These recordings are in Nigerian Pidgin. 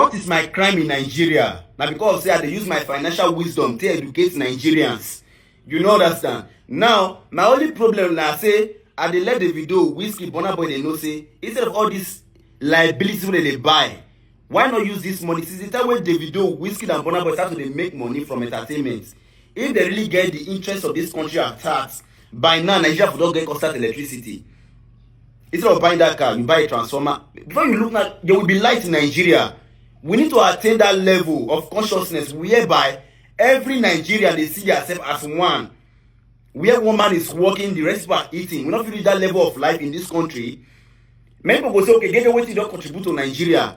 What is my crime in Nigeria? Na because of say I dey use my financial wisdom take educate Nigerians. You no understand? Now, my only problem na say I dey let Davido, Wizkid, Burna Boy dey know say instead of all this liability wey dem dey buy, why not use this money since the time wey Davido, Wizkid and Burna Boy start to dey make money from entertainment if dem really get the interest of this country at heart by now nigeria for don get constant electricity instead of buying that car you buy a transformer before you look now there will be light in nigeria we need to attain that level of consciousness whereby every nigerian dey see theirself as one where one man is working the rest are eating we no fit reach that level of life in this country many people go say okay gege wetin you don contribute to nigeria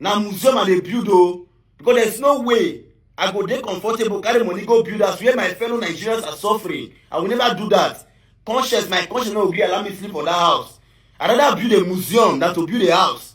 na museum i dey build o because there is no way i go dey comfortable carry money go build house where my fellow nigerians are suffering i will never do that conscience my conscience no go gree allow me sleep for that house i rather build a museum than to build a house